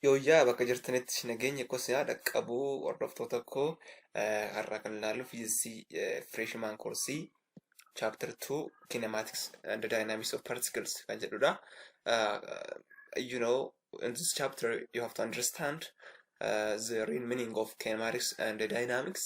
Yooyyaa bakka jirtanitti nageenyi koo sinaa dhaqqabu hordoftoota koo har'a kan ilaallu fiiziksii fireeshimaan koorsii chapter 2 kinematics and the dynamics of particles kan jedhudha. You know in this chapter you have to understand uh, the real meaning of kinematics and the dynamics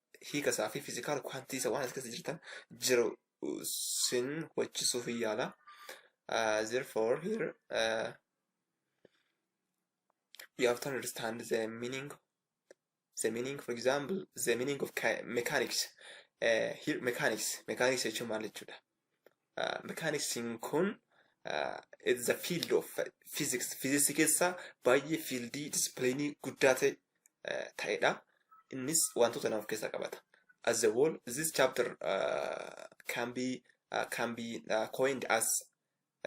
hiika isaa fi fizikaal kwaantii isa waan as keessa jirtan jiru sin hubachisuuf hin yaala. Uh, therefore here uh, you have to understand the meaning the meaning for example the meaning of ki- mechanics uh, here mechanics mechanics jechuun maal jechuudha mekaaniksiin kun it's the field of physics. Physics keessaa baay'ee fiildii disipiliinii guddaa ta'e ta'edha. Innis wantoota lama of keessaa qabata. As a whole, this chapter uh, can be uh, can be uh, coined as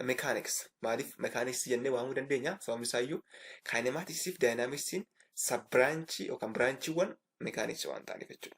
mechanics. Maaliif mechanics jennee waamuu dandeenya? Sababni isaa iyyuu kinematics fi dynamics sub branchii yookaan branchiiwwan mechanics waan ta'aniif jechuudha.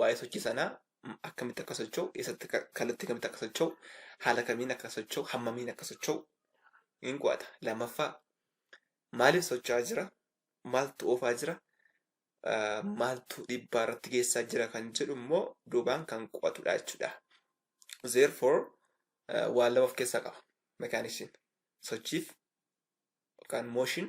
waa'ee sochii sanaa m- akkamitti akka socho'u, eessatti ka- kallattii kamitti akka socho'u, haala kamiin akka socho'u, hammamiin akka socho'u hin qo'ata. Lammaffaa maaliif socho'aa jira, maaltu oofaa jira, ah, maaltu dhiibbaa irratti geessaa jira kan jedhu immoo duubaan kan qo'atudha jechuudha. Therefore ah, waan lama of keessaa qaba mekaaniksiin sochiif yookaan mooshin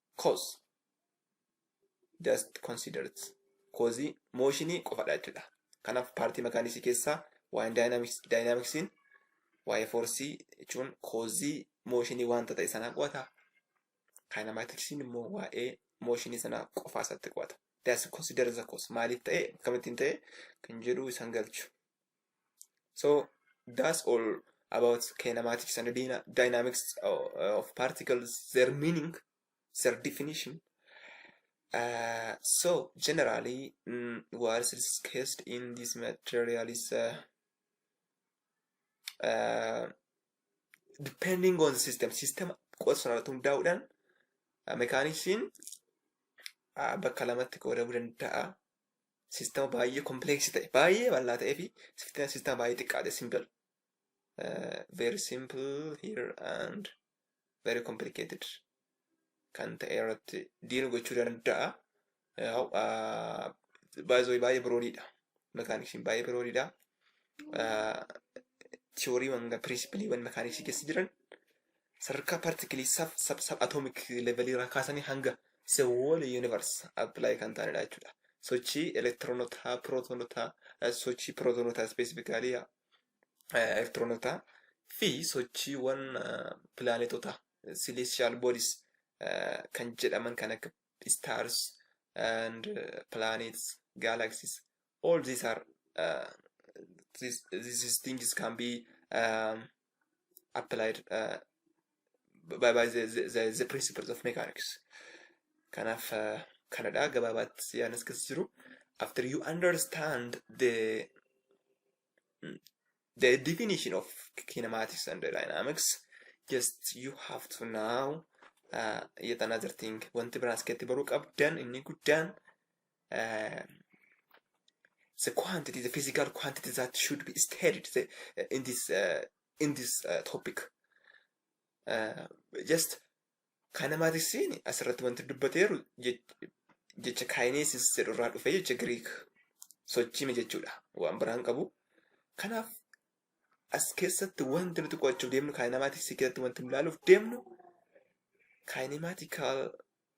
cause just consider it koozii mooshinii qofadha jechuudha kanaaf paartii makaaniksii keessaa waa'een daayinaamiksiin waa'ee foorsii jechuun koozii mooshinii wanta ta'e sanaa qo'ata kaayinamaatiksiin immoo waa'ee mooshinii sanaa qofaa isaatti qo'ata just consider the cause maaliif ta'e akkamittiin ta'e kan jedhu isan galchu so that's all about kinematics and dyna- dynamics o- of particles their meaning their definition uh, so generally mm, what is discussed in this material is uh, uh, depending on the system system qofa sanarratti hundaa'uudhaan uh, mekaaniksiin uh, bakka lamatti qoodamuu danda'a Siistama baay'ee kompleeksii ta'e, baay'ee bal'aa ta'ee fi siistama baay'ee xiqqaa ta'e simple. Very simple here and very complicated kan ta'e irratti diil gochuu danda'a. Baay'ee baay'ee biroodiidha. Mekaaniksiin baay'ee biroodiidha. Tiyooriiwwan pirinsipiliiwwan mekaaniksii keessa jiran Sadarkaa partikilii sab sab sab atomic level irraa kaasanii hanga se whole universe apply kan ta'anidha jechuudha. Sochii elektiroonotaa, pirootonotaa, eh, sochii pirootonotaa ispeesifikaalii elektiroonotaa fi sochiiwwan pilaanetotaa celestial bodies eh, kan jedhaman kan akka stars and eh, planets, galaxies all these are uh, these, these things can be um, applied uh, by, by the, the, the, the principles of mechanics. Kanaaf uh, kanadha gabaabaatti yaanas keessa jiru. After you understand the the definition of kinematics and dynamics, just you have to now uh, yet another thing. Wanti biraan as keessatti baruu qabdan inni guddaan uh, the quantity, the physical quantity that should be studied the, uh, in this uh, in this uh, topic. Uh, just kanamaatiin asirratti wanti dubbateeru jech- jecha kaayineesis jedhu irraa dhufe jecha Giriik sochiime jechuudha. Waan biraan qabu. Kanaaf as keessatti wanti nuti qo'achuuf deemnu kaayinamaatikisii keessatti wanti nu ilaaluuf deemnu kaayinamaatikaal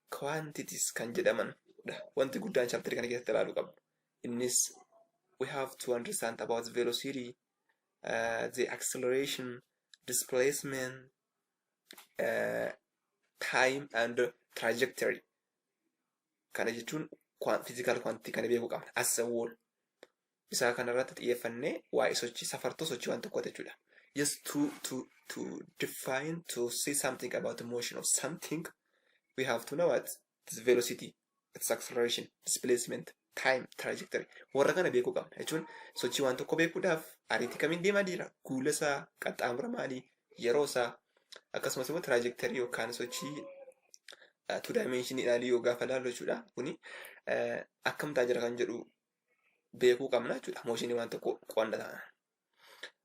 quantities kan jedhaman dha. Wanti guddaan chapter kana keessatti ilaaluu qabnu. Innis we have to understand about velocity, uh, the acceleration, displacement, uh, time and trajectory. Kana jechuun physical quantity kana beekuu qabna. As a whole. isaa kana irratti xiyyeeffannee waa'ee sochii safartuu sochii waan tokkooti jechuudha. Just to, to, to define, to say something about the motion of something, we have to know what its velocity, its acceleration, displacement, time, trajectory. Warra kana beekuu qabna jechuun sochii waan tokko beekuudhaaf ariitii kamiin deemaa jira, guula isaa, qaxxaamura maalii, yeroo isaa, akkasumas immoo trajectory yookaan sochii uh, two dimension ilaalii yoo gaafa ilaallu jechuudha. Kuni uh, akkamtaa jira kan jedhu beekuu qabna jechuudha mooshinii waan tokko qo'anna taana.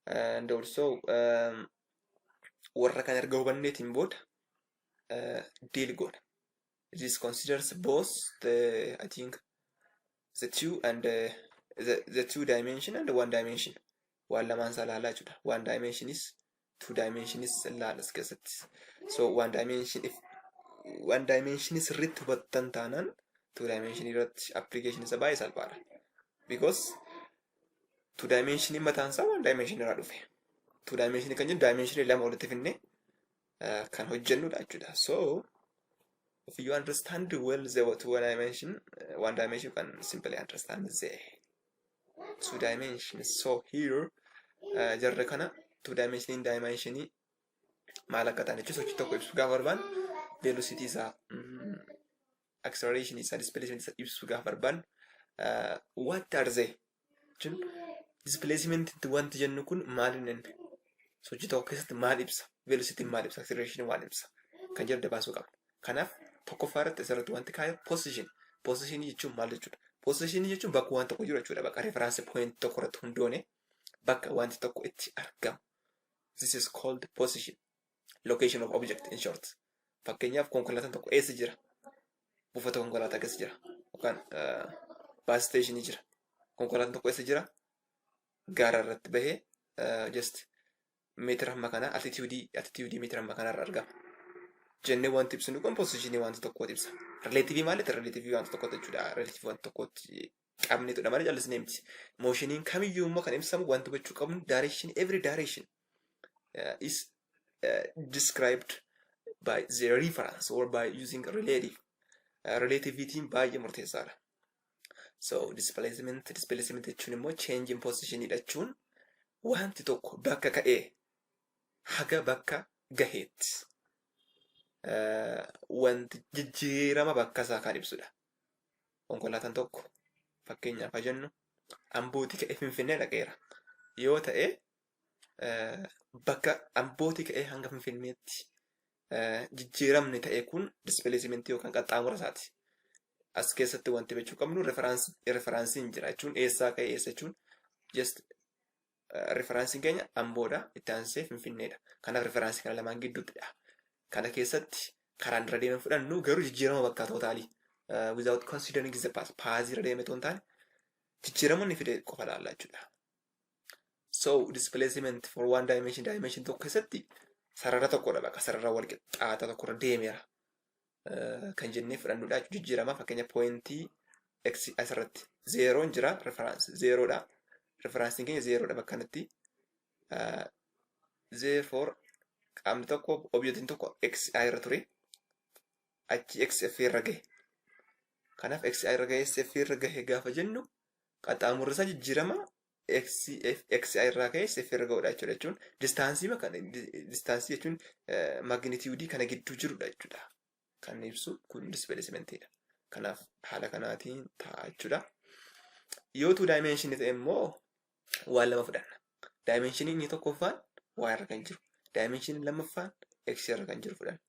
And also warra kan erga hubanneetiin booda deal goona. This considers both the I think the two and the, the, the two dimension and one dimension. Waan lamaan isaa ilaalaa jechuudha. One dimension is two dimensions laal as keessatti so one dimension if one dimension sirriitti hubattan taanaan two dimension irratti application isa baay'ee salphaadha because two dimension mataan isaa one dimension irraa dhufe two dimension kan jennu dimension lama walitti finne uh, kan hojjennudha jechuudha so if you understand well the two dimension uh, one dimension you can simply understand the two dimension so here uh, jarra kana two dimension dimension maal akka ta'an jechuun sochii tokko ibsu gaafa barbaan velocity isaa mm, acceleration isaa displacement isaa ibsu gaafa barbaan uh, what are they jechuun displacement itti wanti jennu kun maal inni sochii tokko keessatti maal ibsa velocity maal ibsa acceleration maal ibsa kan jedhu dabaasuu qabna Kanaaf tokkoffaa irratti asirratti wanti kaa'e position. Position jechuun maal jechuudha? Position jechuun bakka waan tokko jiru jechuudha. Bakka reference point tokko irratti hundoone bakka wanti tokko itti argamu. This is called position. Location of object in short. Fakkeenyaaf konkolaataan tokko eessa jira? Buufata konkolaataa keessa jira. Yookaan baas isteeshinii jira. Konkolaataan tokko eessa jira? Gaara irratti bahee just meetira hamma kanaa altitiyuudii altitiyuudii meetira hamma kanarra argama. Jennee wanti ibsinu kun pozishinii wanta tokkooti ibsa. Rileetivii maalitti rileetivii wanta tokkooti jechuudha. Rileetivii wanta tokkooti qabneetudha malee callisnee miti. Mooshiniin kamiyyuu immoo kan ibsamu wanti gochuu qabnu direction every direction uh, is uh, described by the reference or by using relative. Uh, relativitiin baay'ee murteessaadha. So displacement displacement jechuun immoo change in position jechuun wanti tokko bakka ka'ee haga bakka gaheetti eh, wanti jijjiirama bakka isaa kan ibsudha. Konkolaataan tokko fakkeenyaaf haa jennu Ambootii ka'ee Finfinnee dhaqeera yoo ta'e bakka Ambootii ka'ee hanga Finfinneetti jijjiiramni ta'e kun dispiliisimentii yookaan qaxxaamura isaati. As keessatti wanti beekuu qabnu referansiin jira jechuun eessaa ka'e eessa jechuun just referansiin keenya Amboodha itti aansee Finfinneedha. Kanaaf referaansii kana lamaan gidduuttidha. Kana keessatti karaan irra deemee fudhannu garuu jijjiirama bakka tootaalii without considering the past paasii irra deemee toon taane jijjiirama inni fide qofa ilaalla jechuudha. So displacement for one dimension dimension tokko keessatti sarara tokkodha bakka sarara wal qixxaata tokkorra deemeera kan jennee fudhannudha jijjiirama fakkeenya poointii x asirratti zeeroon jira reference zeeroodha referensiin keenya zeeroodha bakka kanatti therefore qaamni tokko objeetiin tokko x irra ture achi x f irra gahe kanaaf x irra gahe f irra gahe gaafa jennu Qaxxaamurri isaa jijjiirama x, f, x i irraa ka'ee sf irra ga'udha jechuudha jechuun distaansii kana distaansii jechuun magnitiyuudii kana gidduu jirudha jechuudha. Kan ibsu kun dispeesimentiidha. Kanaaf haala kanaatiin ta'a jechuudha. Yoo tuu daayimeenshinii ta'e immoo waan lama fudhanna. Daayimeenshinii inni tokkoffaan waa irra kan jiru. Daayimeenshinii lammaffaan x irra kan jiru fudhanna.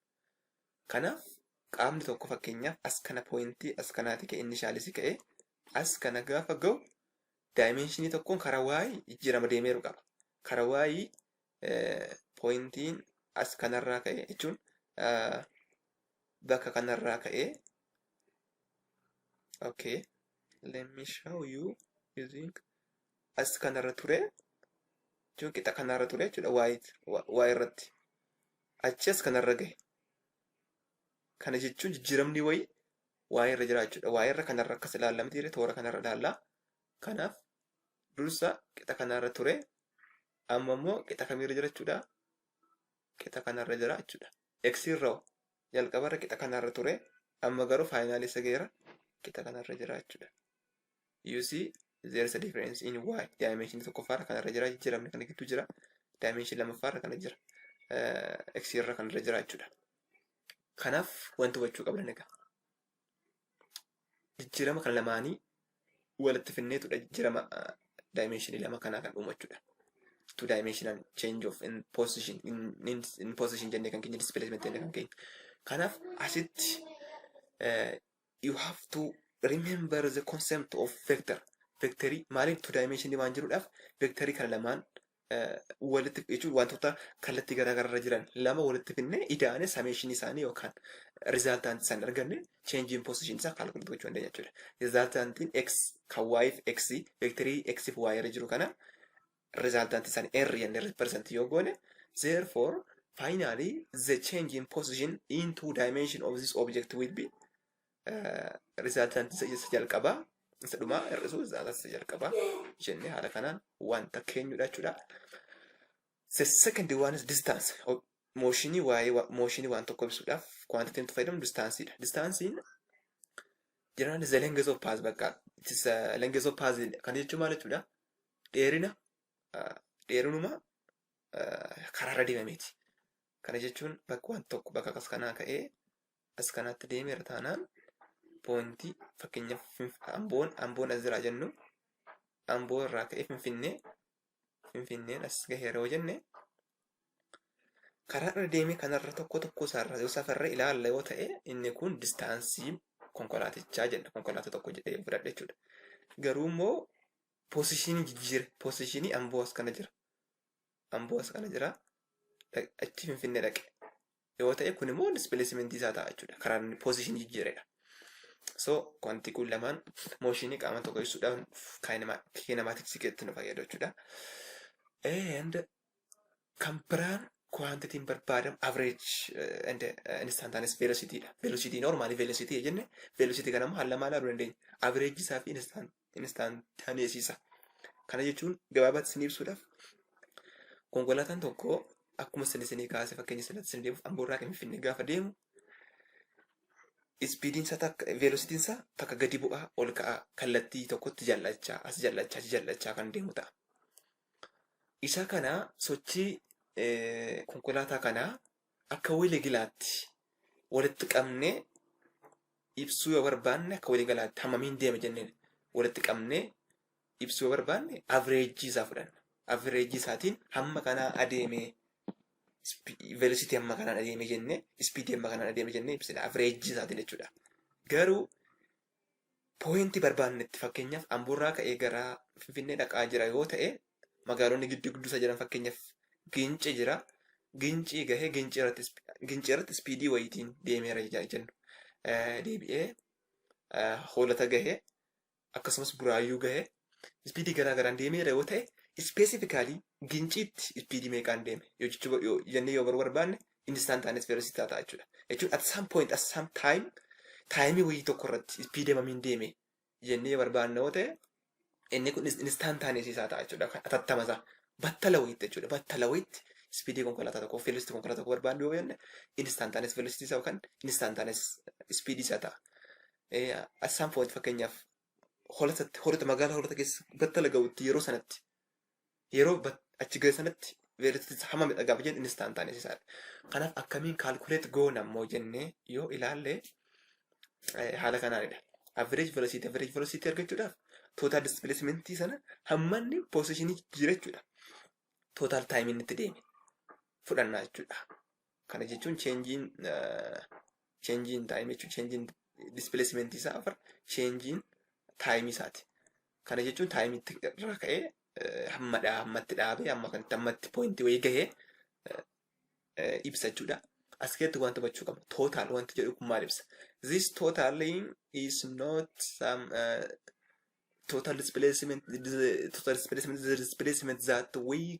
Kanaaf qaamni tokko fakkeenyaaf as kana pooyintii as kanaati ka'e inni shaalisi ka'e As kana gaafa ga'u daayimeenshinii tokkoon karaa y jijjiirama deemeeru qaba. Karaa y pooyintiin as kanarraa ka'e jechuun bakka kanarraa ka'ee okay let me show you using as kanarra ture jechuun qixa kanarra ture jechuudha y irratti achi as kanarra gahe kana jechuun jijjiiramni wayii waa'ee irra jira jechuudha. Waa'ee irra kanarra akkas ilaalla miti jedhee toora kanarra ilaalla. Kanaaf dursa qixa kanarra ture amma immoo qixa kamiirra jira jechuudha. Qixa kanarra jira jechuudha. X irra jalqabarra qixa kanarra ture amma garuu faayinaalii isa ga'eera qixa kanarra jira jechuudha. You see there is a difference in y dimension tokkoffaarra kanarra jira jijjiiramni kana gidduu jira dimension lammaffaarra kana jira x irra kanarra jira jechuudha. Kanaaf wanti hubachuu qabdan egaa jijjiirama kan lamaanii walitti finneetudha jijjiirama daayimeenshinii lama kanaa kan uumachuudha. Two dimensional change of in position in, in, in position jennee kan keenya displacement jennee kan keenya. Kanaaf asitti uh, you have to remember the concept of vector. Vektarii maaliin two dimensionii waan jiruudhaaf vektarii kana lamaan walitti jechuun wantoota kallattii garaagaraarra jiran lama walitti finnee ida'anii sameeshinii isaanii yookaan rizaaltaantii isaanii arganne cheenjiin poosishinii isaa kaalkuleetii gochuu dandeenya jechuudha. Rizaaltaantiin x kan y fi x veektarii x fi y irra jiru kana rizaaltaantii isaanii r jennee riiparsantii yoo goone therefore finally the change in position in two dimension of this object will be Rizaaltaan isa jalqabaa isa dhumaa hir'isuu rizaaltaan isa jalqabaa jennee haala kanaan wanta keenyudha jechuudha. The second one is distance. Mooshinii waa'ee mooshinii waan tokko ibsuudhaaf quantity nuti fayyadamu distaansiidha. Distaansiin jiraan is the length of path bakka it is the length of path kan jechuun maal jechuudha? Dheerina dheerinuma karaarra deemameeti. Kana jechuun bakka waan tokko bakka akkas kanaa ka'ee as kanaatti deemeera taanaan poontii fakkeenyaaf Finf- amboon amboon as jiraa jennu amboo irraa ka'ee finfinnee finfinneen as gaheera yoo jenne karaa irra deemee kanarra tokko tokko isaarraa yoo safarree ilaalla yoo ta'e inni kun distaansii konkolaatichaa jedha konkolaataa tokko jedhee yoo fudhadhe jechuudha. Garuu immoo poosishinii jijjiira poosishinii amboo as kana jira amboo as kana jira dhaq- achi finfinnee dhaqe yoo ta'e kun immoo displacement isaa ta'a jechuudha karaa inni position jijjiiredha. So wanti kun lamaan mooshinii qaama tokko ibsuudhaan kiinemaatiksii keessatti nu fayyadu jechuudha. And kan biraan kwantitiin barbaadamu average and instantaneous velocity dha. Velocity normally velocity jenne velocity kana immoo haala maal ilaaluu dandeenya? Average isaa fi instant instantaneesisa. Kana jechuun gabaabaatti isin ibsuudhaaf konkolaataan tokko akkuma isin isinii kaase fakkeenya sanatti isin deemuuf amboorraa kan finfinnee gaafa deemu ispiidiin isaa takka veelositiin isaa takka gadi bu'aa ol ka'aa kallattii tokkotti jallachaa as jallachaa achi jallachaa kan deemu ta'a. Isa kana sochii konkolaataa kanaa Akka waliigalaatti walitti qabnee ibsuu yoo barbaanne akka waliigalaatti hammamiin deeme jennee walitti qabnee ibsuu yoo barbaanne averejii isaa fudhanna. Averejii isaatiin hamma kanaa adeemee velocity hamma kanaan adeemee jennee ispiidii hamma kanaan adeemee jennee ibsina averejii isaatiin jechuudha. Garuu pooyintii barbaannetti fakkeenyaaf Amboorraa ka'ee gara Finfinnee dhaqaa jira yoo ta'e magaalonni gidduu gidduu isaa jiran fakkeenyaaf Gincii jira. Gincii gahee Gincii irratti Gincii irratti ispiidii wayiitiin deemeera ija- jennu. Eh, Deebi'ee eh, hoolata gahee akkasumas buraayyuu gahee ispiidii garaa garaan deemeera yoo ta'e ispeesifikaalii ginciitti ispiidii meeqaan deeme yoo jechuu yoo jennee yoo baruu barbaanne instantaaniis veelositaa ta'a jechuudha. Jechuun at some point at some time taayimii wayii tokko irratti ispiidii mamiin deeme jennee yoo barbaanne yoo ta'e inni kun instantaaniis isaa ta'a jechuudha. Kan atattama isaa battala wayiitti jechuudha. Battala wayiitti ispiidii konkolaataa tokko veelositii konkolaataa tokko barbaanne yoo jenne instantaaniis veelositii isaa yookaan instantaaniis ispiidii isaa ta'a. Eh, At some point fakkeenyaaf holatatti holata magaalaa holata keessa battala ga'utti yeroo sanatti yeroo bat- achi ga'e sanatti veelatitis hamma meeqa gaafa jennu innis ta'an ta'an isaadha. Kanaaf akkamiin kaalkuleet goona immoo jennee yoo ilaalle eh, haala kanaanidha. Average velocity average velocity argachuudhaaf total displacement sana hammanni positionii jijjiirachuudha. Total time inni itti deeme fudhannaa jechuudha. Kana jechuun cheenjiin cheenjiin taayimii jechuun cheenjiin dispileesimentii isaa afar cheenjiin taayimii isaati. Kana jechuun taayimitti irraa ka'ee eh, hamma dhaa hammatti dhaabee hamma kanatti hammatti poointii wayii gahee eh, eh, ibsa jechuudha. As keessatti wanta hubachuu qabna. Total wanti jedhu kun maal ibsa? This totaling is not some uh, total displacement, the total displacement, the displacement that we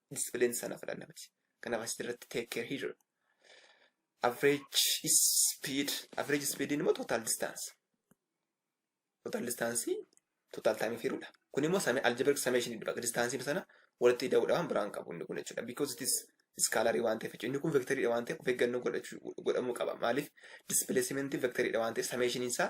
discipline sana fudhanna miti. Kanaaf asitti irratti take care here. Average speed, average speed immoo total distance. Total distance total time firuudha. Kun immoo same algebraic summation dha. Distance sana walitti ida'uudha waan biraan qabu inni kun jechuudha. Because it is iskaalarii waan ta'eef inni kun vektarii waan ta'eef of eeggannoo godhachuu godhamuu qaba. Maaliif displacement vektarii waan ta'eef summation isaa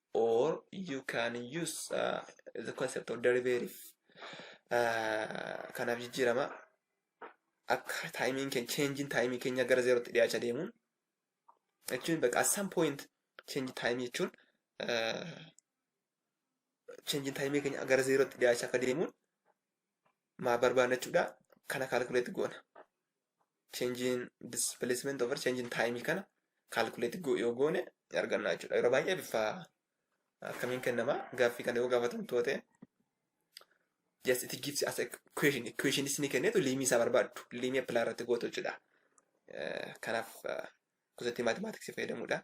or you can use uh, the concept of derivative uh, kanaaf jijjiirama akka taayimiin keenya cheenjiin taayimii keenya gara zeerootti dhiyaacha deemuun jechuun bakka at some point cheenjii taayimii jechuun uh, cheenjiin taayimii keenya gara zeerootti dhiyaacha akka deemuun maa barbaanna jechuudha kana kaalkuleetti goona. change in displacement over change in time kana calculate go yoo goone ni arganna jechuudha. Yeroo baay'ee bifa akkamiin kennama gaaffii kana yoo gaafatan toote just it gives as a equation equation isni kennetu liimii isaa barbaaddu liimii appilaa irratti gootu jechuudha. Eh, Kanaaf eh, gosoota maatimaatiksii fayyadamuudha.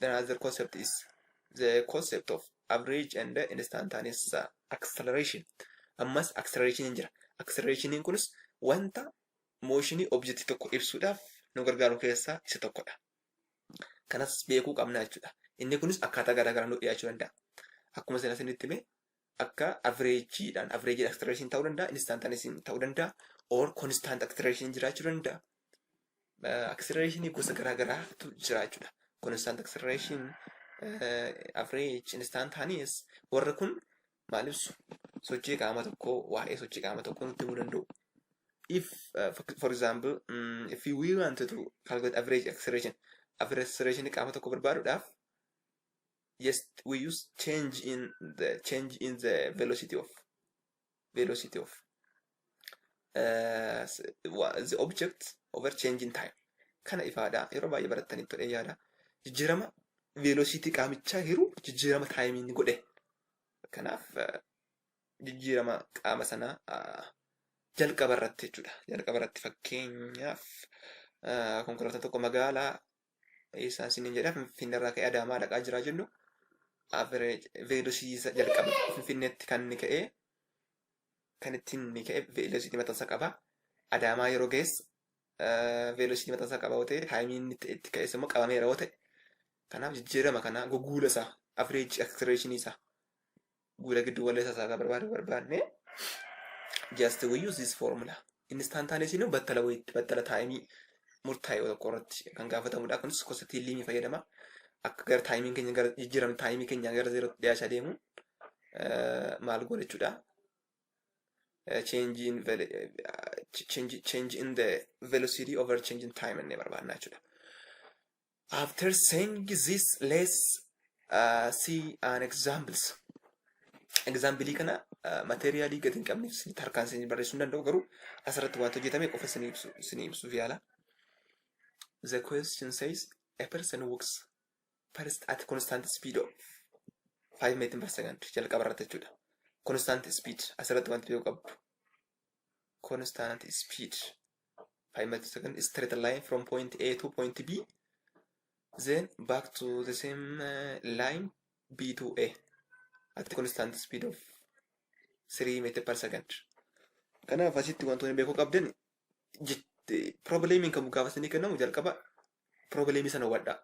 Another concept is the concept of average and instantaneous acceleration. Ammas acceleration hin jira. Acceleration kunis wanta mooshinii objectii tokko ibsuudhaaf nu gargaaru keessaa isa tokkodha. Kanas beekuu qabna jechuudha. Inni kunis akkaataa garaagaraa nu dhiyaachuu danda'a. Akkuma isin asinitti hime akka avreejiidhaan avreejid aktireeshin ta'uu danda'a instantanesin ta'uu danda'a or konstant aktireeshin jiraachuu danda'a. Aktireeshinii gosa garaa garaatu jiraachuudha. Konstant aktireeshin avreej instantanees warra kun maal ibsu sochii qaama tokkoo waa'ee sochii qaama tokkoo nutti himuu danda'u. If uh, for, for example um, if we want to calculate average acceleration average acceleration qaama tokko barbaaduudhaaf yes we use change in the change in the velocity of velocity of uh, the object over change in time kana ifaadha yeroo baay'ee barattaniif ture yaada jijjiirama velocity qaamichaa hiruu jijjiirama taayimiin godhe kanaaf uh, jijjiirama qaama sanaa uh, jalqaba irratti jechuudha jalqaba irratti fakkeenyaaf uh, konkolaataa tokko magaalaa eessaa isiniin jedha Finfinnee irraa ka'ee Adaamaa dhaqaa jira jennu average velocity isa jalqaba Finfinneetti kan inni ka'ee kan ittiin inni ka'e velocity mataa isaa qaba. Adaamaa yeroo ga'es velocity mataa isaa qaba yoo ta'e taayimii inni itti- itti ka'es immoo qabameera yoo ta'e kanaaf jijjiirama kana goguula isaa average acceleration isaa guuda giddu galeessa isaa kan barbaadu barbaanne just we use this formula instantaneous nu battala wayitti battala taayimii murtaa'e tokko irratti kan gaafatamudha kunis gosa tiilliimii fayyadama akka gara taayimiin keenya gara jijjiiramni taayimii keenya gara zeerootti dhiyaachaa deemu maal goona jechuudha change in velo- eh, change change in the velocity over change in time inni barbaadna jechuudha After saying this, let's uh, see an examples. Example kana uh, materialii gadi hin qabne isinitti harkaan isin barreessuu hin danda'u garuu asirratti waanta hojjetame qofa isin ibsu isin ibsuuf yaala. The question says a person walks first at constant speed of 5 meter per second jalqaba irratti jechuudha. Constant speed asirratti wanti beeku qabdu. constant speed five meter per second straight line from point A to point B then back to the same uh, line B to A at constant speed of 3 meter per second. Kanaaf asitti wantoonni beekuu qabdan probleemiin kan gaafasanii kennamu jalqaba Piroobileemii sana hubadhaa.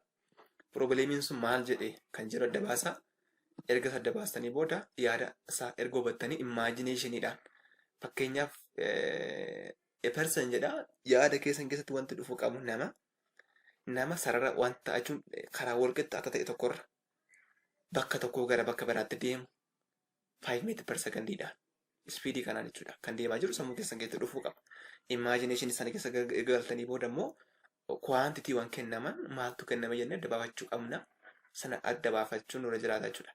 Piroobileemiin sun maal jedhe kan jedhu adda baasaa. Erga isa adda baastanii booda yaada isaa erga hubattanii immaajineeshiniidhaan fakkeenyaaf a person jedha yaada keessan keessatti wanti dhufu qabu nama nama sarara wanta jechuun karaa walqixa akka ta'e tokkorra bakka tokkoo gara bakka biraatti deemu 5 meetir per sekondiidhaan ispiidii kanaan jechuudha kan deemaa jiru sammuu keessan keessatti dhufuu qaba. Imaajineeshinii sana keessa galtanii booda immoo kuwaantitiiwwan kennaman maaltu kenname jennee adda baafachuu qabna. Sana adda baafachuun nurra jiraata jechuudha.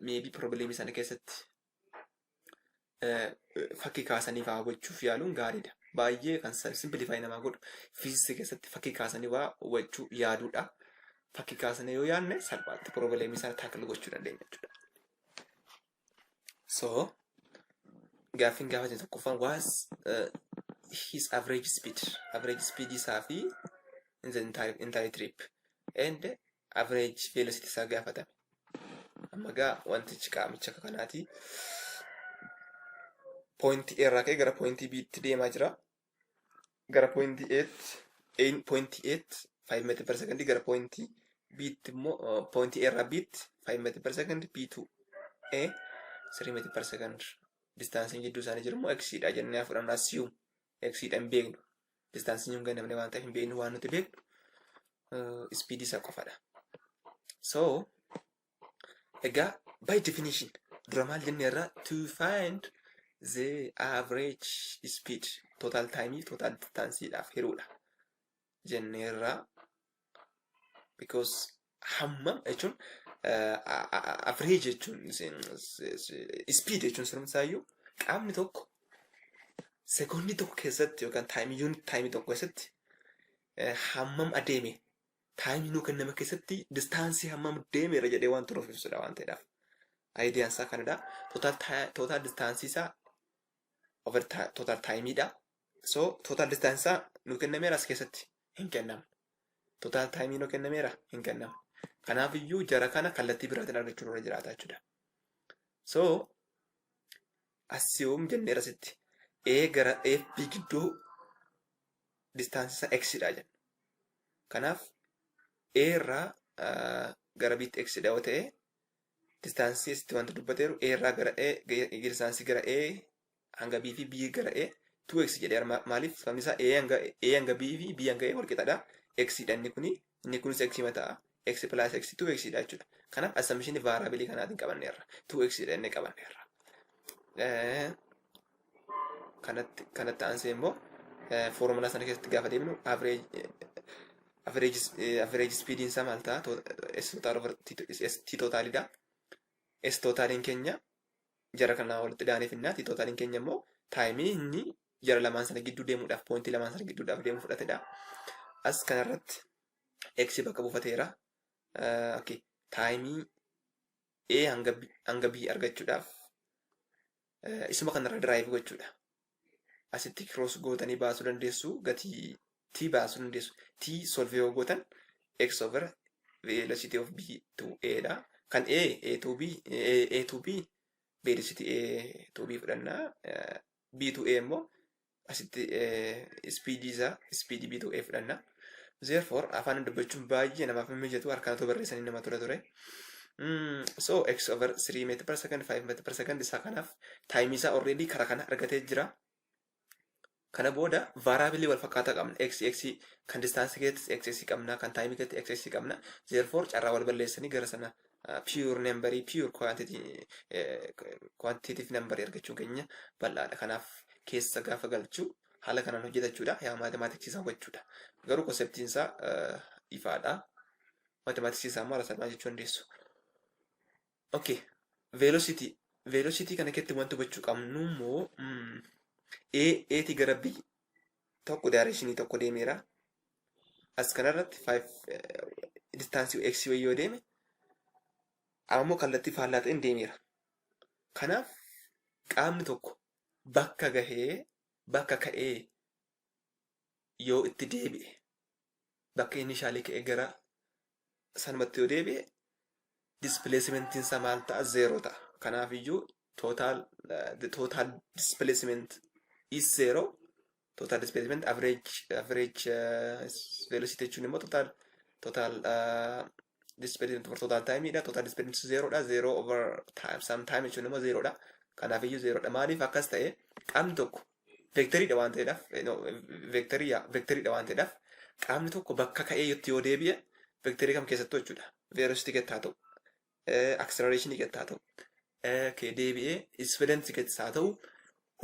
Meebii piroobileemii sana keessatti fakkii kaasanii waa hubachuuf yaaluun gaariidha. Baay'ee kan simplify namaa godhu fiiziksii keessatti fakkii kaasanii waa hubachuu yaaduudha. Fakkii kaasanii yoo yaadne salphaatti piroobileemii sana taakil gochuu dandeenya jechuudha. So gaaffiin gaafate tokkoffaan was his average speed average speed isaa fi in the entire, entire trip and average velocity isaa gaafatame. Amma gaa wantichi qaamicha akka kanaati. Point A irraa ka'ee gara point B tti deemaa jira. Gara point A tti, A point A tti 5 meetir per second gara point B tti immoo uh, point A irraa B tti 5 meetir per second B to A 3 meetir per second. Distaansiin jidduu isaanii jiru immoo X dha jennee haa fudhannu assume X dha hin beeknu. Distaansiin hin gannamne waan ta'eef hin beeknu waan nuti beeknu ispiidii isaa qofadha. So egaa by definition dura maal jenne irraa to find the average speed total time total distaansii dhaaf hiruudha jenne irraa because hammam jechuun average jechuun speed jechuun sirumsaayyuu qaamni tokko sekoondii tokko keessatti yookaan taayimii yuunit taayimii tokko keessatti hammam adeeme taayimii nuu kenname keessatti distaansii hammam deemeera jedhee waan turuuf ibsudha waan ta'eedhaaf. Ayidiyaan isaa kanadha. Tootaal distaansii isaa over tootaal taayimiidha. So total distance isaa nu kennameera as keessatti hin kennamu. Total time nu kennameera hin kennamu. Kanaaf iyyuu jara kana kallattii biraatiin argachuu irra jiraata jechuudha. So assume jenneera sitti A gara FB gidduu distance isaa X dha jenna. Kanaaf A irraa gara Btti X dha yoo ta'e Distaansii asitti wanti dubbateeru A irraa gara A gahee distaansii gara A hanga B fi B gara A 2x jedhee armaa maaliif sababni isaa A hanga A hanga B fi B hanga A wal qixadha x dha inni kuni inni kunis x mataa x plus x 2x dha jechuudha kanaaf assumption variable kanaatiin qabanneerra 2x dha inni qabanneerra kanatti kanatti aansee immoo foormulaa sana keessatti gaafa deemnu average speediin isaa maal ta'a s totaal over t totaalidha s totaaliin keenya jara kana walitti daanee finnaa t totaaliin keenya immoo taayimii inni jara lamaan sana gidduu deemuudhaaf poointii lamaan sana gidduudhaaf deemu fudhatedha as kanarratti x bakka buufateera okay taayimii a hanga b argachuudhaaf isuma kanarra diraayif gochuudha. Asitti kiroos gootanii baasuu dandeessu gatii t baasuu dandeessu t solve yoo gootan x over velocity of b to a dha. Kan a a to b a a to b velocity a to b fudhanna b to a immoo asitti ispiidii isaa ispiidii bituu ee fudhanna. Therefore afaan dubbachuun baay'ee namaaf hin mijatu harkaan otoo barreessanii nama tola ture. Mm, so x over 3 meter per second 5 meter per second isaa kanaaf taayimii isaa already karaa kana argatee jira. Kana booda vaaraabilii wal fakkaataa qabna. x x kan distaansii keessatti x x qabna kan taayimii keessatti x x qabna. Therefore carraa wal balleessanii gara sana pure number pure quantity quantitative number argachuu keenya bal'aadha kanaaf keessa gaafa galchuu haala kanaan hojjeta jechuudha yaa mathematics isaa hubachuudha garuu konseptiin isaa ifaadha mathematics isaa maal salphaa jechuu dandeessu okay velocity velocity kana keessatti wanti hubachuu qabnu immoo A A ti gara B tokko daareeshinii tokko deemeera. As kanarratti 5 distaansii x wayii yoo deeme ammoo kallattii faallaa ta'een deemeera. Kanaaf qaamni tokko bakka gahee bakka ka'ee yoo itti deebi'e bakka inni ishaalee ka'e gara sanumatti yoo deebi'e displacement isaa maal ta'a zeeroo ta'a kanaaf iyyuu total uh, the total displacement is zero total displacement average average uh, velocity jechuun immoo total total uh, displacement over total time dha total displacement zero dha zero over time some time jechuun immoo zero dha kanaaf iyyuu zero dha maaliif akkas ta'e qaamni tokko Veektarii dha waan ta'eedhaaf, no, veektarii yaa, veektarii dha waan ta'eedhaaf, qaamni tokko bakka ka'ee yotti yoo deebi'e, veektarii kam keessattuu jechuudha. Veerositii keetti haa ta'u, akseleraashinii keetti haa ta'u, eh, kee deebi'ee ispeedansi keettis haa ta'u,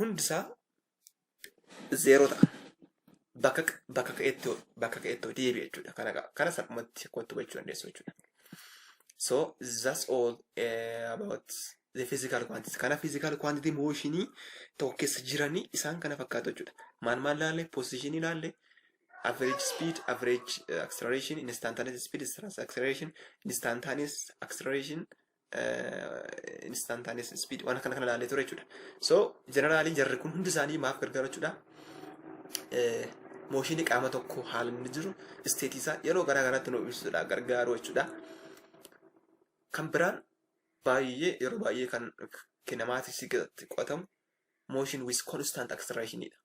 hundisaa zeeroo ta'a. Bakka, qa- bakka ka'eetti yoo- bakka ka'eetti yoo deebi'e jechuudha. Kana, qa- kana salphumatti kottu gochuu dandeessu jechuudha. So that's all eh, about the physical quantity. Kana physical quantity mooshinii tokko keessa jiranii isaan kana fakkaatu jechuudha. Maal maal laalle? Position laalle, average speed, average uh, acceleration, instantaneous speed, instantaneous acceleration, instantaneous acceleration, uh, instantaneous speed waan kana kana laalle ture jechuudha. So generally jarri kun hundi isaanii maaf gargaaru jechuudha. Eh, Mooshinii qaama tokko haala inni jiru isteetii isaa yeroo garaa garaatti nu ibsudha gargaaru jechuudha. Kan biraan baay'ee yeroo baay'ee kan kinematics keessatti qo'atamu motion with constant acceleration dha.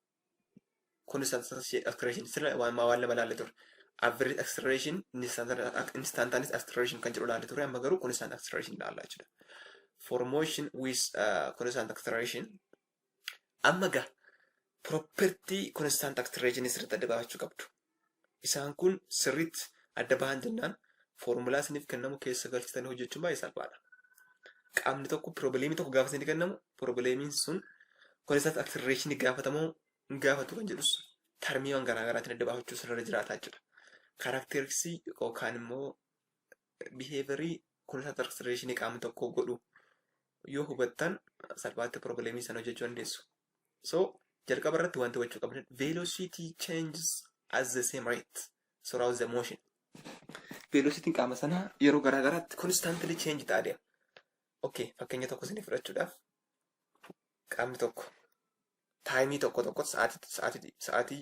Constant acceleration sirna waan waan lama ilaalle ture. Average acceleration instantaneous acceleration kan jedhu ilaalle ture amma garuu constant acceleration ilaalla jechuudha. For motion with uh, constant acceleration Amma egaa property constant act region sirriitti adda baafachuu qabdu. Isaan kun sirriitti adda bahan jennaan foormulaa isiniif kennamu keessa galchitanii hojjechuun baay'ee salphaadha. Qaamni tokko piroobileemii tokko gaafa isinii kennamu piroobileemiin sun constant act region gaafatamoo hin gaafatu kan jedhus tarmiiwwan garaa garaatiin adda baafachuu sirra jiraata jechuudha. Kaaraakteeriksii yookaan immoo biheeverii kunuunsa tarsireeshinii qaama tokkoo godhu yoo hubattan salphaatti piroobileemii sana hojjechuu dandeessu. So jalqaba irratti wanti hubachuu qabdan velocity changes at the same rate throughout the motion. Velocitiin qaama sanaa yeroo garaa garaatti constantly change ta'a deema. Okay, fakkeenya tokko isinii fudhachuudhaaf qaamni tokko taayimii tokko tokkotti sa'aatii sa'aatii sa'aatii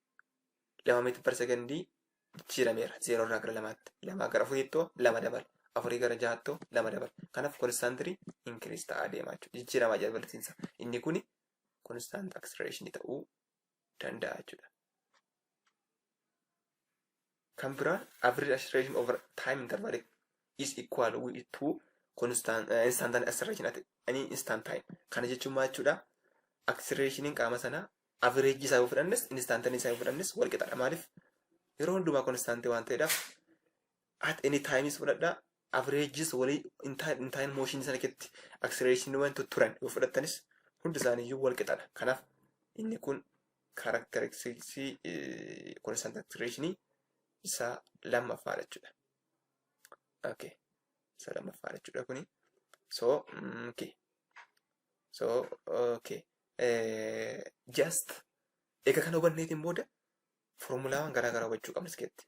lama meetir per sekondii jijjiirameera. Zeeroo irraa gara lamaatti. Lamaa gara afuriittoo lama dabala. Afurii gara ja'aattoo lama dabala. Kanaaf konstaantirii inkiriis ta'aa deemaa jechuudha. Jijjiiramaa jira bal'isiinsa. Inni kun konstaant akselereeshinii ta'uu danda'a jechuudha. Kan biraan average acceleration over time interval is equal with to constant uh, instantaneous acceleration at any instant time. Kana jechuun maal jechuudha? Accelerationin qaama sanaa average isaa yoo fudhannes instantaneous isaa yoo fudhannes wal qixadha. Maaliif? Yeroo hundumaa constant waan ta'eedhaaf at any time is fudhadha averages walii hin taa- hin taa'in mooshinii sana keessatti acceleratiniiwwan tutturan yoo fudhattanis hundi isaanii iyyuu wal qixadha. Kanaaf inni kun karakteristiksii constant acceleration isaa lammaffaadha jechuudha. Okay. Isa lammaffaadha jechuudha kuni. So, mm, okay. So, okay. Eh, just egaa kana hubanneetiin booda foormulaawwan garaa garaa hubachuu qabna iskeetti.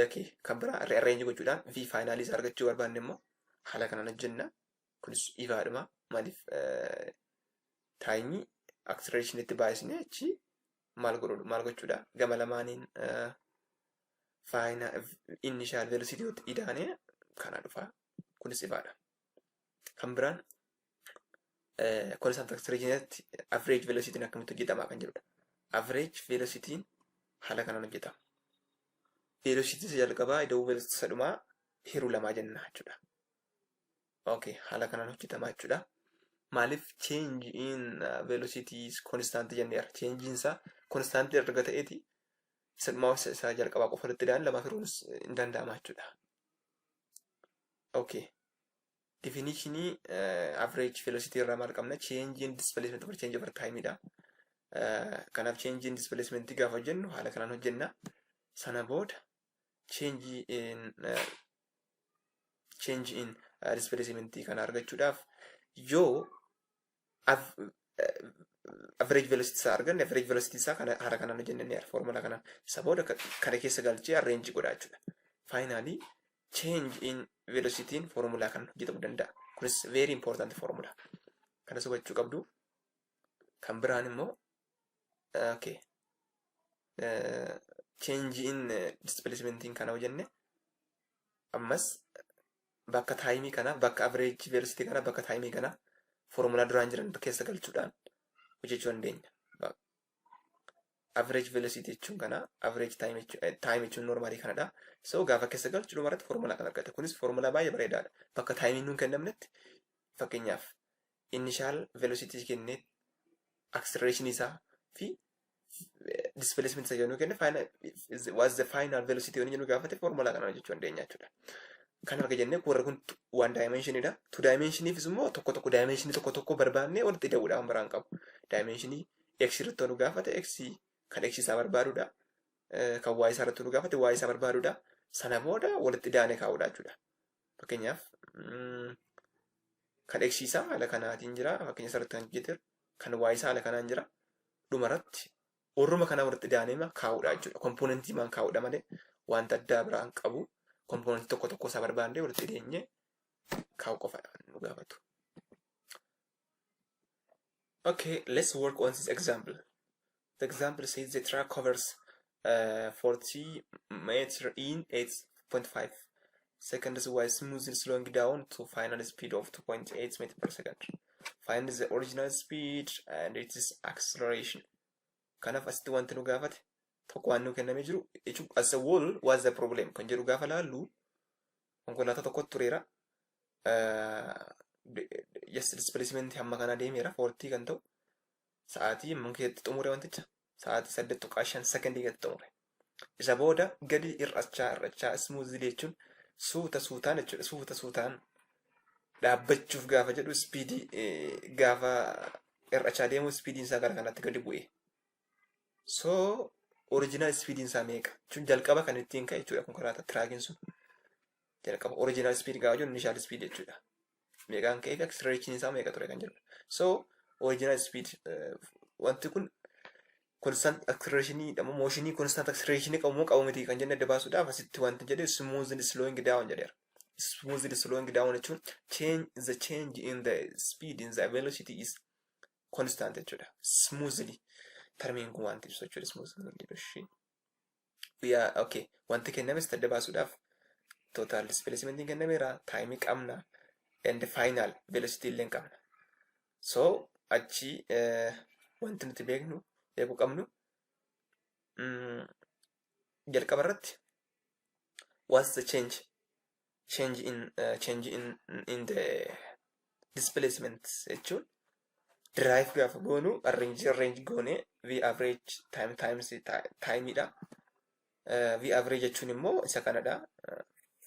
yookiin kan biraa rearrange gochuudhaan v faayinaalii isaa argachuu barbaanne immoo haala kanaan hojjenna. Kunis ifaadhuma maaliif taayimii acceleration itti baay'isnee achi maal godhu maal gochuudha gama lamaaniin faayina initial velocity idaanee kana dhufa kunis ifaadha. Kan biraan konstant acceleration average velocity akkamitti hojjetama kan jedhudha. Average velocity haala kanaan hojjetama. Velocity isa jalqabaa ida'uu velocity isa dhumaa hiruu lamaa jenna jechuudha. Okay, haala kanaan hojjetama jechuudha. Maaliif change in uh, velocity is constant jenneera. Change in isaa constant erga ta'eeti isa dhumaa isa isa jalqabaa qofa irratti daan lamaaf hiruunis hin danda'ama jechuudha. Okay. Difinishinii average velocity irraa maal qabna? Change in displacement over change over time dha. Kanaaf change in displacement gaafa hojjennu haala kanaan hojjenna. Sana booda change in change in displacement kana argachuudhaaf yoo average velocity isaa arganne average velocity isaa kana haala kanaan hojjenne ni arga formula kanaan isa booda kana keessa galchee arrange godha jechuudha. Finally change in velocity in formula kan hojjetamu danda'a. Kunis very important formula. Kanas hubachuu qabdu. Kan biraan immoo okay change in displacement kana hojjenne ammas Bakka taayimii kana, bakka average velocity kana, bakka taayimii kana foormulaa duraan jiran keessa galchuudhaan hojjechuu dandeenya. Average velocity jechuun kana, average time jechuun normaalii kanadha. So gaafa keessa galchu dhuma irratti foormulaa kan argate. Kunis foormulaa baay'ee bareedaadha. Bakka taayimiin nuun kennamnetti fakkeenyaaf initial velocity kennee acceleration isaa fi displacement isa jennu kenne final was the final velocity yoo jennu gaafate formula kana hojjechuu dandeenya jechuudha. Kan arga jennee warri kun one dimension dha. Two dimension ifis immoo tokko tokko dimension tokko tokko barbaannee walitti ida'uudha kan biraan qabu. Dimension x irratti nu gaafate x kan x isaa barbaadudha. Kan y isaa irratti nu gaafate y isaa barbaadudha. Sana booda walitti idaanee kaa'uudha jechuudha. Fakkeenyaaf kan x isaa haala kanaatiin jira. Fakkeenya isarratti kan hojjeteera. Kan y isaa haala kanaan jira. Dhumarratti warruma kanaa walitti daanema kaa'uudha jechuudha. Kompoonentii maan kaa'uudha malee wanta addaa biraan qabu kompoonentii tokko tokko isaa barbaannee walitti deenyee kaa'u qofa nu gaafatu. Okay, let's work on this example. The example says the track covers uh, 40 meter in 8.5 seconds while smoothly slowing down to final speed of 2.8 meter per second. Find the original speed and its acceleration. Kanaaf asitti wanti nu gaafate tokko waan nu kenname jiru jechuun as a wall was the problem kan jedhu gaafa laallu konkolaataa tokkotu tureera. Yes, displacement hamma kana deemeera foortii kan ta'u sa'aatii amma keessatti xumure wanticha sa'aatii saddeet tuqaa shan sekondii keessatti xumure. Isa booda gadi hir'achaa hir'achaa ismuuzii jechuun suuta suutaan jechuudha suuta suutaan dhaabbachuuf gaafa jedhu ispiidii gaafa hir'achaa deemu ispiidiin isaa gara kanatti gadi bu'e. So original speediin isaa meeqa? Jechuun jalqaba kan ittiin ka'e jechuudha konkolaataa tiraakiin sun. Jalqaba original speed gaafa jennu initial speed jechuudha. Meeqaan ka'ee fi acceleration isaa meeqa ture kan jedhudha. So original speed eh, wanti kun constant acceleration jedhamu motion constant acceleration qabu moo qabu miti kan jenne adda baasuudhaaf asitti wanti jedhe smoothly slowing down jedheera. Smoothly slowing down jechuun change the change in the speed in the velocity is constant jechuudha. Smoothly. Tarmiin kun wanti ibsu jechuudha smoothly hin jedhu ishii. We are okay. Wanti kennames adda baasuudhaaf total displacement hin kennameera. Time qabna. And final velocity illee hin qabna. So achi eh, wanti nuti beeknu beekuu qabnu mm, jalqaba irratti what's the change change in change in in the displacement jechuun derive gaafa goonu arrange arrange goone v average time times time dha. V average jechuun immoo isa kanadha.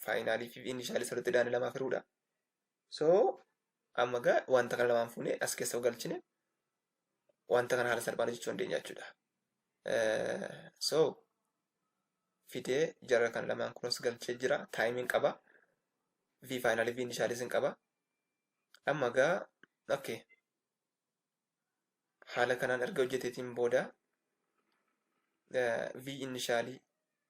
Faayinaalii fi inishaalii sirriitti daani lamaa firuudha. So amma gaa wanta kana lamaan fuunee as keessa galchine wanta kana haala salphaan hojjechuu dandeenya jechuudha. So fidee jara kan lamaan kunis galchee jira taayimiin qaba v faayinaalii v inishaalis hin qaba amma gaa okay haala kanaan erga hojjeteetiin booda v inishaalii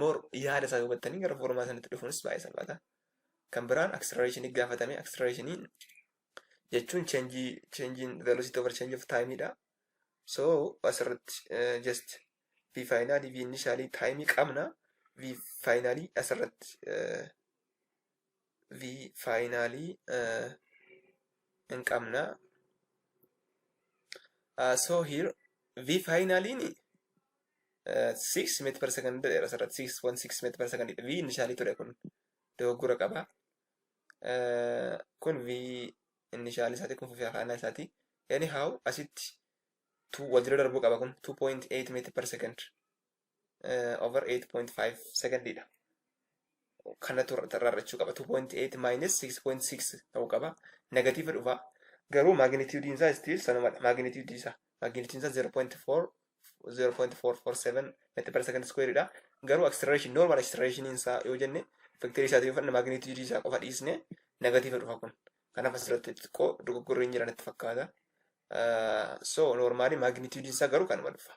Moor yaada isaa hubattanii gara foormaa sanatti dhufuunis baay'ee salphaata. Kan biraan acceleration gaafatame acceleration jechuun change change velocity over change of time dha. So asirratti just v finally v initially time qabna v finally asirratti v finally hin qabna. So here v finally 6 meet per second jedheera asirratti 6.6 meet per second v inishaalii ture kun dogoggora qaba kun v inishaalii isaati kun fufii afaanaa isaati anyhow asitti tu wal jira darbuu qaba kun 2.8 meet per second over 8.5 second dha kanatu rarrachuu qaba 2.8 minus 6.6 ta'uu qaba negatiiva dhufa garuu magnitudiin isaa still sanumadha magnitudii isaa magnitudiin isaa 0.4 0.447 meetira per second square dha garuu acceleration normal acceleration isaa yoo jenne vector isaa yoo fudhanne magnitude isaa qofa dhiisne negative dhufa kun kanaaf asirratti xiqqoo dogoggorri hin jiran itti fakkaata so normally magnitude isaa garuu kanuma dhufa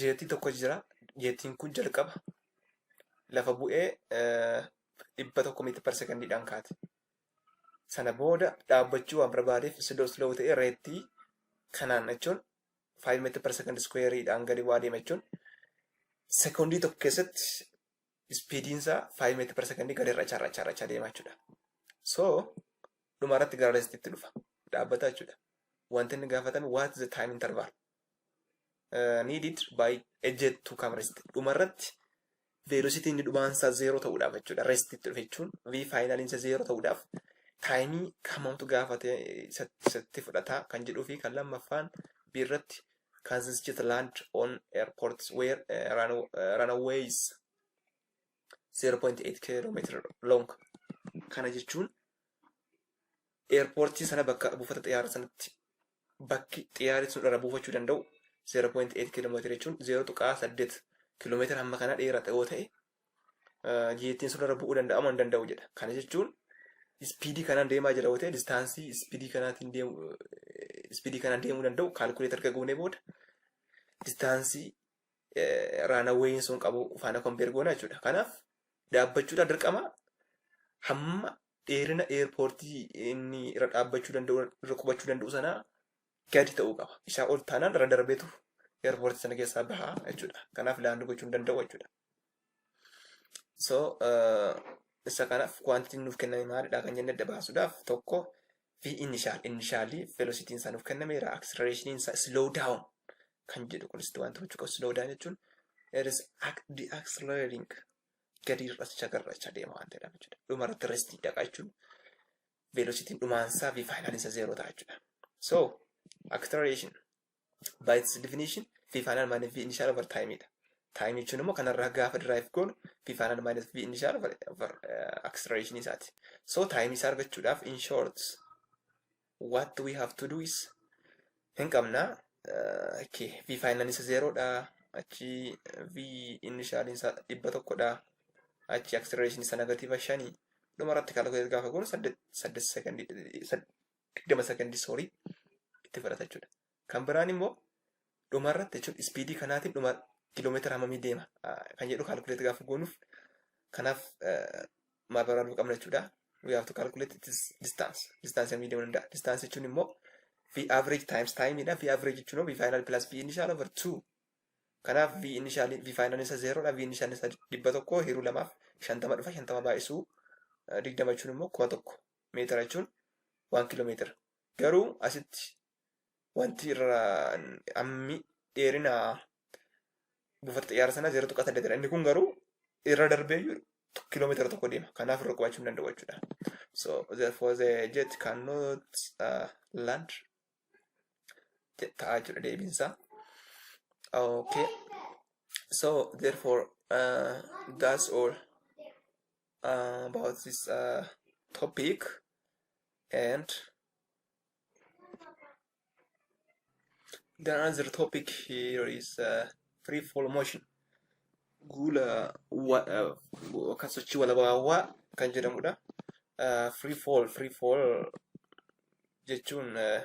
jeetii tokko jira. Jeetiin kun jalqaba lafa bu'ee dhibba tokko miitir par sekondiidhaan kaate. Sana booda dhaabbachuu waan barbaadeef slow slow ta'ee reettii kanaan jechuun 5 meetir par sekondi iskuweeriidhaan gadi bu'aa deema jechuun sekondii tokko keessatti ispiidiin isaa 5 meetir par sekondii gadi irra charra charra charra deema jechuudha. So dhuma irratti gara reestitti dhufa dhaabbata jechuudha. Wanti inni gaafatame what is the time interval uh, needed by a jet to come rest dhuma irratti velocity inni dhumaan isaa zeeroo ta'uudhaaf jechuudha rest itti dhufe jechuun v final isa zeeroo ta'uudhaaf taayimii kamamtu gaafate isatti fudhata kan jedhuu fi kan lammaffaan b irratti kan this jet land on airports where uh, run, uh, runaways 0.8 kilometer long kana jechuun Eerpoortii sana bakka buufata xiyyaara sanatti bakki xiyyaarri sun irra buufachuu danda'u 0.8 kiiloomeetira jechuun 0.8 kiiloomeetira hamma kanaa dheerata yoo ta'e jeettiin sun irra bu'uu danda'amu hin danda'u jedha. Kana jechuun ispiidii kanaan deemaa jira yoo ta'e distaansii ispiidii kanaatiin deemu ispiidii kanaan deemuu danda'u kaalkuleetar erga goonee booda distaansii raanaweeyiin sun qabu faana kompeer goona jechuudha. Kanaaf dhaabbachuudhaan dirqama hamma dheerina eerpoortii inni irra dhaabbachuu danda'u irra qubachuu danda'u sanaa gadi ta'uu qaba. Isaa ol taanaan irra darbeetu eerpoortii sana keessaa baha jechuudha. Kanaaf laandii gochuu hin danda'u jechuudha. So isa kanaaf kuwaantitiin nuuf kenname maalidha kan jenne adda baasuudhaaf tokko V initial initialii velocitiin isaa nuuf kennameera accelerationin isaa slow down kan jedhu kunis wanti gochuu qabu slow down jechuun it is ac- decelerating gadi hir'aticha garracha deema waan ta'edha jechuudha. Dhuma irratti restii dhaqa jechuun velocitiin dhumaan isaa v finalin isa zeeroo ta'a jechuudha. So acceleration by its definition v final minus v initial over time dha. Time jechuun immoo kanarraa gaafa derive goonu v final minus v initial over, over uh, acceleration isaati. So time isaa argachuudhaaf in short what do we have to do is hin qabna okay. v final isa zero dha achi v initial isa dhibba tokko dha achi acceleration isa negative shani dhuma irratti calculate gaafa goonu saddeet saddeet second digdama second sorry itti fudhata jechuudha Kan biraan immoo dhuma irratti jechuun ispiidii kanaatiin dhuma kiiloomeetira hammamii deema kan jedhu kaalkuleet gaafa goonuuf kanaaf maal barbaaduu qabna jechuudha. We have to calculate its distance. Distance hammamii deemuu danda'a. Distance jechuun immoo V average times time dha. V average jechuun immoo V final plus V initial over 2. Kanaaf V initial V final isa 0 dha. V initial isa 100 hiruu lamaaf 50 dhufa 50 baay'isuu 20 jechuun immoo 1000 meetira jechuun 1 kiiloomeetira. Garuu asitti wanti irra ammi dheerina buufata xiyyaara sana 0.8 dha. Inni kun garuu irra darbee iyyuu kiiloomeetira tokko deema. Kanaaf irra qubachuu hin danda'u jechuudha. So therefore the jet cannot uh, land ta'a jechuudha deebiin isaa. Okay. So therefore uh, that's all uh, about this uh, topic and The another topic here is uh, free fall motion. Guula wa- uh, yookaan sochii walabaawaa kan jedhamudha. Uh, free fall, free fall jechuun uh,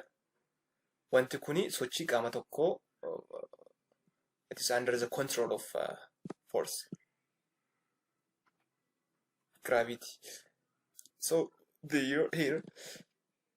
wanti kuni sochii qaama tokkoo uh, it is under the control of uh, force, gravity. So the here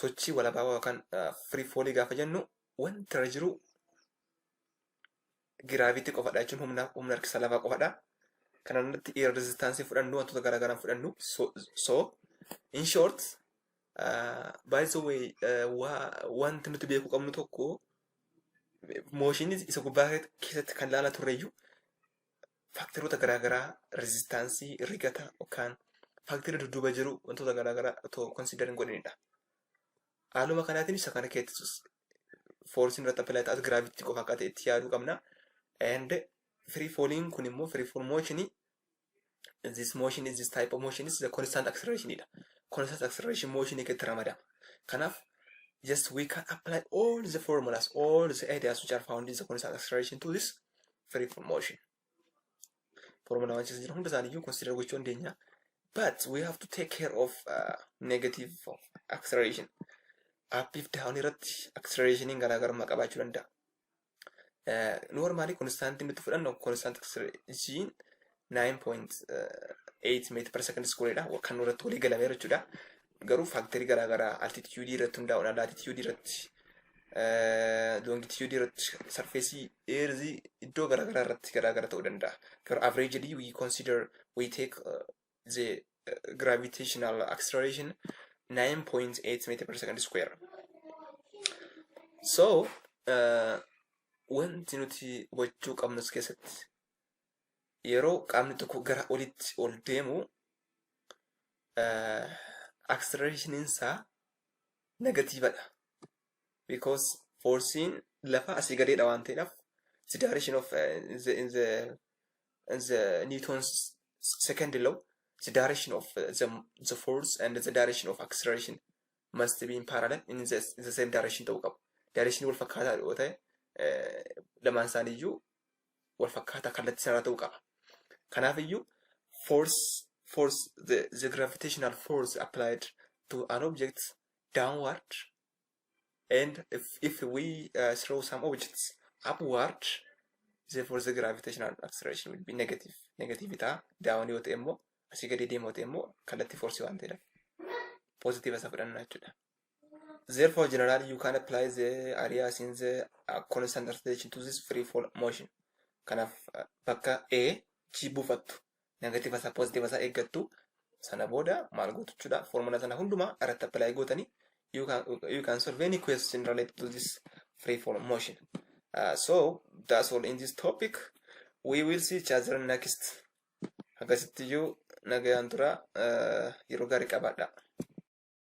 Sochii walabaawaa yookaan free fall gaafa jennu wanti irra jiru giraavitii qofadha jechuun humna humna harkisa lafaa qofadha. Kana irratti eer rezistaansiin fudhannu wantoota garaa garaan fudhannu so, so in short uh, by the way uh, wa, wanti nuti beekuu qabnu tokko mooshinii isa gubbaa keessatti kan laala turreyyuu faakteroota garaagaraa rezistaansii, rigata yookaan faakterii dudduuba jiru wantoota garaagaraa otoo konsiidar hin godhinidha. Haaluma kanaatiin isa kana keessattis foorsiin irratti appilaayi ta'as giraavitii qofa akka ta'etti yaaduu qabna. And free falling kun immoo free fall motion this motion is this type of motion is the constant acceleration dha. Constant acceleration motion keessatti ramadama. Kanaaf just we can apply all the formulas, all the ideas which are found in the constant acceleration to this free from motion. Formula waan keessa jiru hunda isaanii iyyuu consider gochuu dandeenya. But we have to take care of uh, negative of acceleration. Up if down irratti accelerationin garaagarummaa qabaachuu danda'a. Uh, normally constantin nuti fudhannu constant acceleration 9.8 meetir per second squareedha kan nurratti walii galamee jechuudha. Garuu faaktarii garaagaraa altitiyuudii irratti hundaa'uudhaan laatitiyuudii irratti loongitiyuudii irratti sarfeesii eerzii iddoo garaagaraa irratti garaagara ta'uu danda'a. Garuu avreejidii we consider we take uh, the uh, gravitational acceleration 9.8 meter per second square. So uh, wanti nuti hubachuu qabnus keessatti yeroo qaamni tokko gara olitti ol deemu acceleration isaa negatiivadha. Because forsiin lafa asii gadeedha waan ta'eedhaaf the direction of uh, in the, in the, in the Newton's second law the direction of uh, the, the force and the direction of acceleration must be in parallel in the, in the same direction ta'uu qabu. Direction wal fakkaataa yoo ta'e eh, lamaan isaanii iyyuu wal fakkaataa kallattii sanaa ta'uu qaba. Kanaaf iyyuu force force the, the gravitational force applied to an object downward and if, if we uh, throw some objects upward therefore the gravitational acceleration will be negative negative ta'a down yoo ta'e immoo asii gadi deemu yoo ta'e immoo kallattii force waan ta'eef positive isa fudhanna jechuudha. Therefore, generally, you can apply the areas in the uh, constant rotation to this free fall motion. Kanaaf uh, bakka A G buufattu negative isaa positive isaa eeggattu sana booda maal gootu jechuudha formula sana hundumaa irratti apply gootanii you can, you can solve any question related to this free fall motion. Uh, so that's all in this topic. We will see each other next. Akkasittiyyuu nagayaan tura uh, yeroo gaarii qabaadha.